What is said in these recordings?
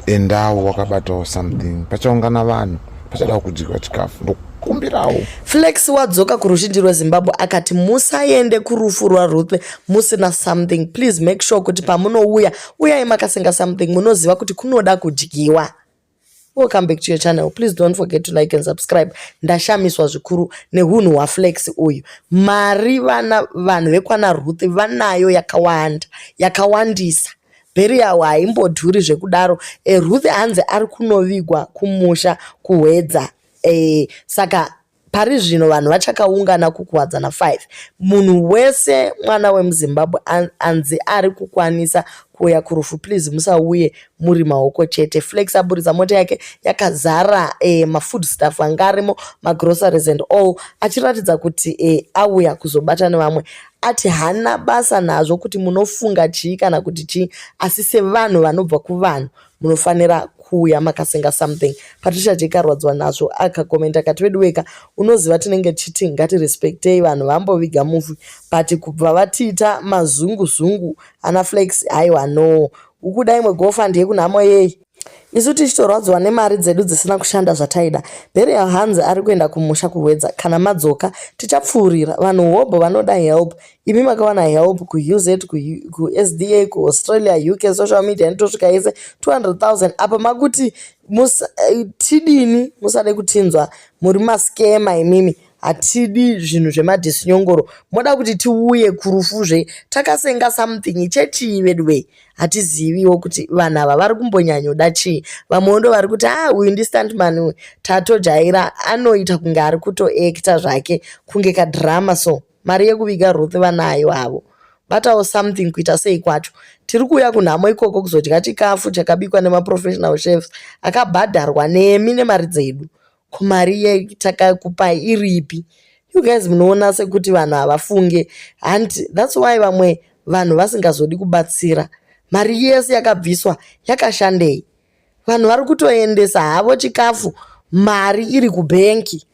endawo wakabatawo something pachaungana vanhu pachadawo kudyiwa chikafu ndokumbirawo flex wadzoka kuruzhinji rwezimbabwe akati musaende kurufu rwaruth musina something please make sure kuti pamunouya uyai makasenga something munoziva kuti kunoda kudyiwa welcome back to your channel please don't forget to like and subscribe ndashamiswa zvikuru nehunhu hwaflex uyu mari vana vanhu vekwana ruth vanayo yakawanda yakawandisa Burial haimbodhuri zvekudaro. Eh, Ruth hanzi ari kunovigwa kumusha kuHwedza. Eh, saka pari zvino vanhu vachakaungana kukuwadzana 5 munhu wese mwana wemuzimbabwe anzi ari kukwanisa kuuya kurufu please musauye muri maoko chete flex aburitsa mota yake yakazara eh, mafood staff anga arimo magroceries and all achiratidza kuti eh, auya kuzobata nevamwe ati haana basa nazvo kuti munofunga chii kana kuti chii asi sevanhu vanobva kuvanhu munofanira kuuya makasenga something patricia jake arwadziwa nazvo akakomenta akati veduweka unoziva tinenge tichiti ngatirespectei vanhu vamboviga mufi but kubva vatiita mazunguzungu ana flex haiwa no ukuda imwe gofa ndiye kunhamo yei isu tichitorwadziwa nemari dzedu dzisina kushanda zvataida berial hanzi ari kuenda kumusha kuhwedza kana madzoka tichapfuurira vanhu hobho vanoda help imi makawana help kuuz kusda kuaustralia uk social media anitosvika yese 200000 apa makuti eh, tidini musade kutinzwa muri maskema imimi hatidi zvinhu zvemadhisinyongoro moda kuti tiuye kurufu zve takasenga something chechii veduwee hatiziviwo kuti vanhu ava vari kumbonyanyoda chii vamwewo ndo vari kuti a ah, uyu ndistantman uyu tatojaira anoita kunge ari kutoekta zvake kunge kadhirama so mari yekuviga ruth vanayo havo batawo something kuita sei kwacho tiri kuuya kunhamo ikoko kuzodya chikafu chakabikwa nemaprofessional chefs akabhadharwa nemi nemari dzedu Ko mari yatakakupai iripi? You guys munoona sekuti vanhu havafunge and that's why vamwe vanhu vasingazodi kubatsira. Mari yese yakabviswa yakashandei? Vanhu vari kutoendesa havo chikafu mari iri kubhenki.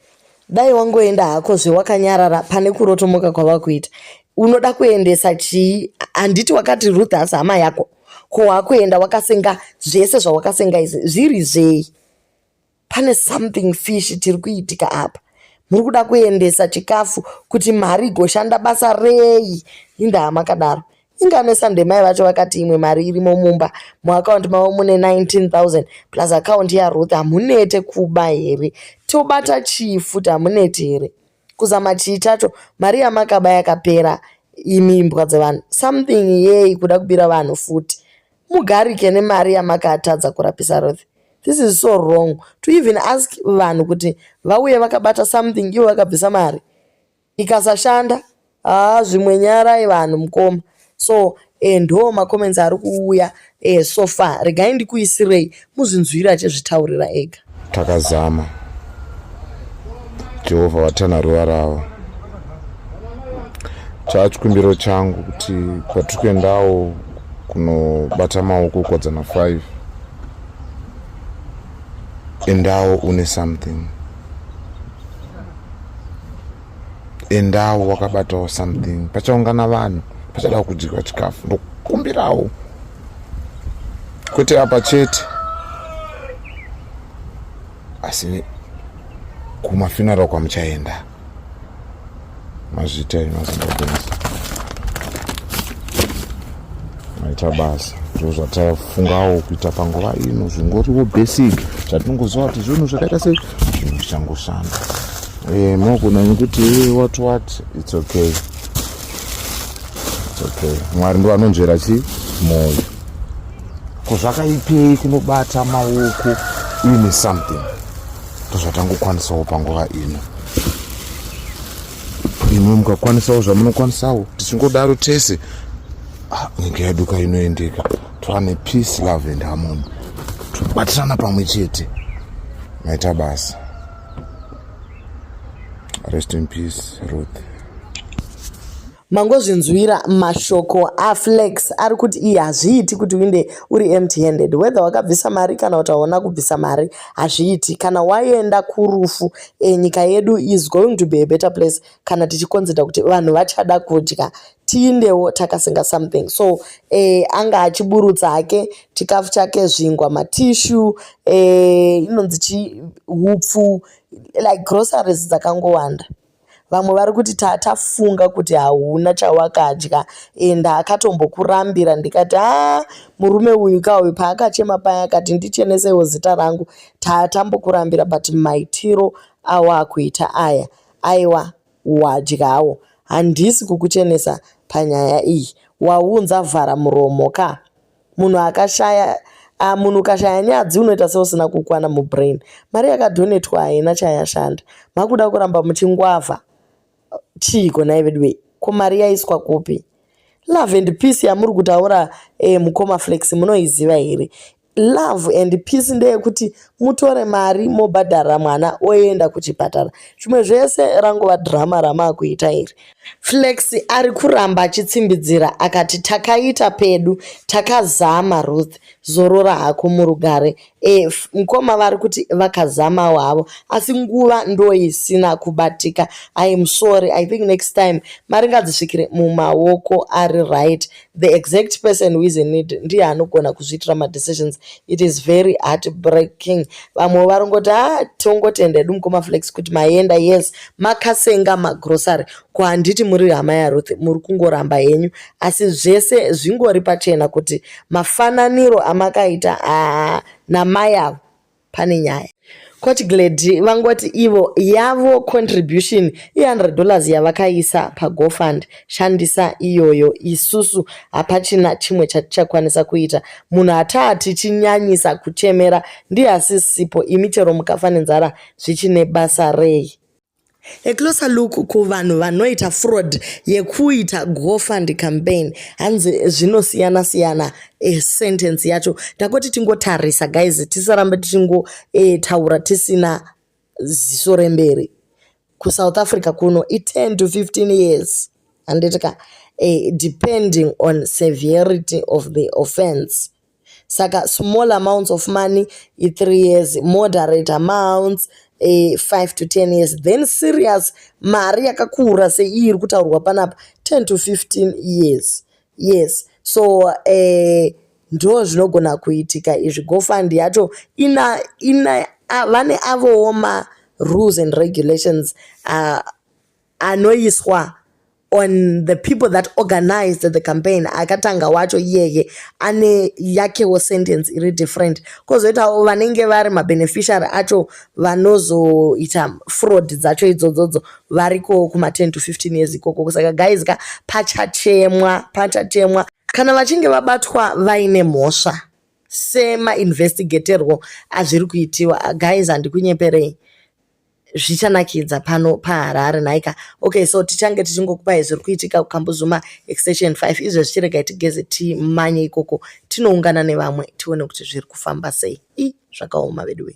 Dai wangoenda hako zvewakanyarara pane kurotomoka kwavakuita. Unoda kuendesa chii? Handiti wakati Ruth hasi hama yako? Ko wakuenda wakasenga zvese zvawakasenga izvi zviri zvei? pane something fish tiri kuitika apa muri kuda kuendesa chikafu kuti mari igoshanda basa rei indaa makadaro inganesa ndemai vacho vakati imwe mari irimo mumba muakaunti mavo mune 19000 plus akaunti yaruth hamunete kuba here tobata chii futi hamuneti here Kuzama chii chacho mari yamakaba yakapera imi imbwa dzevanhu something yei kuda kubira vanhu futi mugarike nemari yamakatadza kurapisa Ruth this is so wrong to even ask vanhu kuti vauye vakabata something ivo vakabvisa mari ikasashanda Haa zvimwe nyarai vanhu mukoma. So eh, ndo macomments ari kuuya eh, so far regai ndikuisirei muzvinzwira achizvitaurira ega. Takazama. Jehovha vatana ruva ravo. Chaa chikumbiro changu kuti kwatiri kuendawo kunobata maoko kwadzana 5 endawo une something endawo wakabatawo something pachaungana vanhu pachada kudyiwa chikafu ndokumbirawo kwete apa chete asi kumafinaro kwamuchaenda mazvita imazimbabwenzi maita basa ndo zvataifungawo kuita panguva ino zvingoriwo basic zvatinongoziva kuti zvinhu zvakaita se zvinhu zvichangoshanda Eh, mogona nekuti what what it's okay it's okay mwari ndo anonzvera chi moyo ko zvakaipei kunobata maoko uine something ndozvatangokwanisawo panguva ino imwe mukakwanisawo zvamunokwanisawo tichingodaro tese ah, nyika yedu ka inoendeka twane peace love and harmony tobatirana pamwe chete maita basa Rest in peace, Ruth. mangozvinzwira mashoko aflex ari kuti iyi hazviiti kuti uinde uri empty handed whether wakabvisa mari kana kuti hauna kubvisa mari hazviiti kana waenda kurufu e, nyika yedu is going to be a better place kana tichikonzida kuti vanhu vachada kudya tiindewo takasenga something so eh, anga achiburutsa hake chikafu chake zvingwa matishu eh, inonzi eh, chi hupfu like groceries dzakangowanda vamwe vari kuti tatafunga kuti hauna chawakadya and akatombokurambira ndikati a murume uyu ka uyu paakachema paya akati ndichenesewo zita rangu tatambokurambira but maitiro awakuita aya aiwa wadyawo handisi kukuchenesa panyaya iyi waunza vhara muromo ka munhu akashaya ah, munhu ukashaya nyadzi unoita seusina kukwana mubrain mari yakadhonetwa haina chayashanda makuda kuramba muchingwavha chiiko nai veduwei ko mari yaiswa kupi love and peace yamuri kutaura eh, mukoma flex munoiziva here love and peace ndeyekuti mutore mari mobhadharira mwana oenda kuchipatara zvimwe zvese rangova drama ramaakuita iri flex ari kuramba achitsimbidzira akati takaita pedu takazama ruth zorora hako murugare e, mkoma vari kuti vakazamawo havo asi nguva ndoisina kubatika iam sorry i think next time mari ngadzisvikire mumaoko ari right the exact person who is in need ndiye anogona kuzviitira madecisions it is very heart breaking vamwe varingoti ha ah, tongotenda edu mukoma flex kuti maenda yes makasenga magrocery ko handiti muri hama yaruth muri kungoramba henyu asi zvese zvingori pachena kuti mafananiro amakaita aa ah, namai avo pane nyaya court glady vangoti ivo yavo contribution i100 dollars yavakaisa pagofund shandisa iyoyo isusu hapachina chimwe chatichakwanisa kuita munhu hataa tichinyanyisa kuchemera ndiye asisipo imi chero mukafa nenzara zvichine basa rei A closer look kuvanhu vanoita fraud yekuita GoFund campaign hanzi zvinosiyana siyana e sentence yacho takoti tingotarisa guys tisarambe tichingotaura eh, e, tisina ziso remberi kusouth africa kuno i10 to 15 years handiti ka e, depending on severity of the offense saka small amounts of money i3 years moderate amounts e, eh, 5 to 10 years then serious mari yakakura seiyi iri kutaurwa panapa 10 to 15 years yes so uh, ndo zvinogona kuitika izvi gofund yacho ina ina vane avowo ma rules and regulations uh, anoiswa on the people that organized the campaign akatanga wacho iyeye ane yakewo sentence iri different kozoitawo vanenge vari mabeneficiary acho vanozoita fraud dzacho idzodzodzo variko kuma 10 to 15 years ikoko saka guys ka pachachemwa pachachemwa kana vachinge vabatwa vaine mhosva semainvestigaterwo azviri kuitiwa guys handikunyeperei zvichanakidza pano paharare nhaika okay so tichange tichingokupai zviri kuitika kukambuzuma extension 5 izvo zvichiregai tigeze timanye ikoko tinoungana nevamwe tione kuti zviri kufamba sei i zvakaoma veduwe